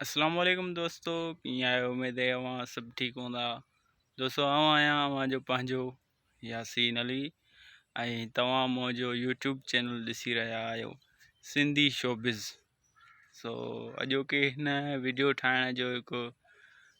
السلام عليڪم دوستو ڪيئن آهيو اميد اهي اوهان سڀ ٺيڪ هوندا دوستو آئون آهيان اوهان جو پنهنجو ياسين علي ۽ توهان منهنجو يوٽيوب چينل ڏسي رهيا آهيو سنڌي شوبز سو اڄوڪي هن ويڊيو ٺاهڻ جو هڪ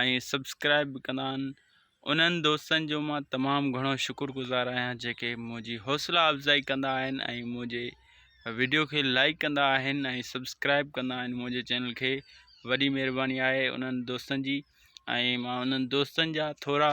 ۽ سبسڪرائب به ڪندا آهن انهن دوستن جو مان تمام گهڻو شڪر گذار آهيان جيڪي منهنجي حوصلا افزائي ڪندا آهن ۽ منهنجي ويڊيو کي لائڪ ڪندا آهن ۽ سبسڪرائب ڪندا آهن منهنجي چينل کي وڏي مهرباني آهي انهن دوستن جي ۽ مان انهن دوستن جا ٿورا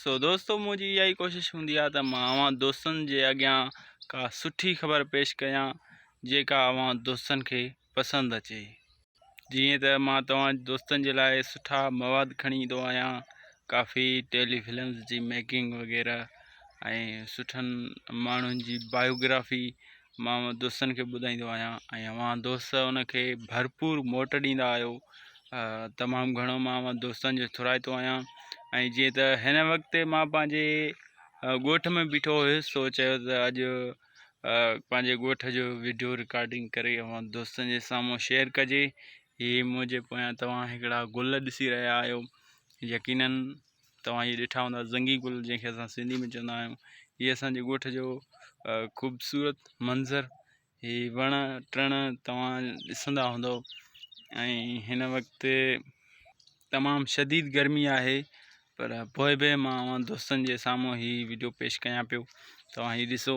سو دوستو منهنجي اها ئي ڪوشش هوندي آهي ته مان اوهان دوستن جي اڳيان ڪا سٺي خبر پيش ڪيان جيڪا اوهان دوستن کي پسند اچي جيئن ته مان توهان دوستن جي لاء سٺا مواد کڻي ايندو آهيان ڪافي ٽيلي فلمز جي ميڪنگ وغيره ۽ سٺن ماڻهن جي بايوگرافي مان اهو دوستن کي ٻڌائيندو آهيان ۽ اوهان دوست ان کي ڀرپور موٽ ڏيندا آهيو تمام گهڻو مان اوهان دوستن جو ٿورائتو آهيان ۽ جيئن ته هن وقت مان پنهنجي ڳوٺ ۾ بيٺو هيس سو چيو ته اڄ پنهنجي ڳوٺ جو ويڊيو رڪارڊنگ ڪري اوهان دوستن جي سامهون شيئر ڪجي هي منهنجي پويان توهان هڪڙا گل ڏسي رهيا آهيو يقينن توهان هي ڏٺا هوندا زنگي گل جنهن کي اسان سنڌي ۾ چوندا آهيون هي اسان جي ڳوٺ جو خوبصورت منظر هي وڻ ٽڻ توهان ڏسندا هوندو ۽ هن وقت تمام شديد گرمي آهي پر پوء به مان دوستن جي سامهون هي ويڊيو پيش ڪيان پيو توهان هي ڏسو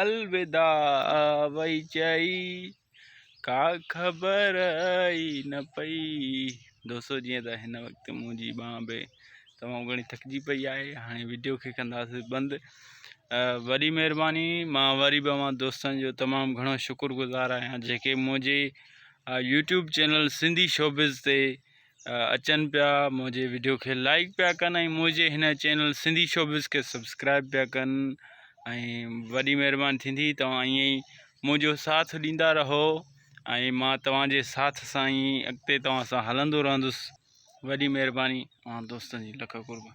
الوداع وئي چئي ڪا خبر ئي نه پئي دوستو جيئن ته هن وقت منهنجي ٻانهن به تمام گهڻي ٿڪجي پئي آهي هاڻي ويڊيو کي ڪنداسي بند وڏي مهرباني مان وري به اوهان دوستن جو تمام گهڻو شڪر گذار آهيان جيڪي منهنجي يوٽيوب چينل سنڌي شوبز تي اچن پيا منهنجي ويڊيو کي لائڪ پيا ڪن ۽ منهنجي هن چينل سنڌي شوبز کي سبسڪرائب پيا ڪن ۽ وڏي مهرباني ٿيندي توهان ائين ئي منهنجو ساٿ ڏيندا رهو ۽ مان توهان جي ساٿ سان ئي اڳتي توهان سان هلندو رهندس وڏي مهرباني اوهان دوستن جي لک قربان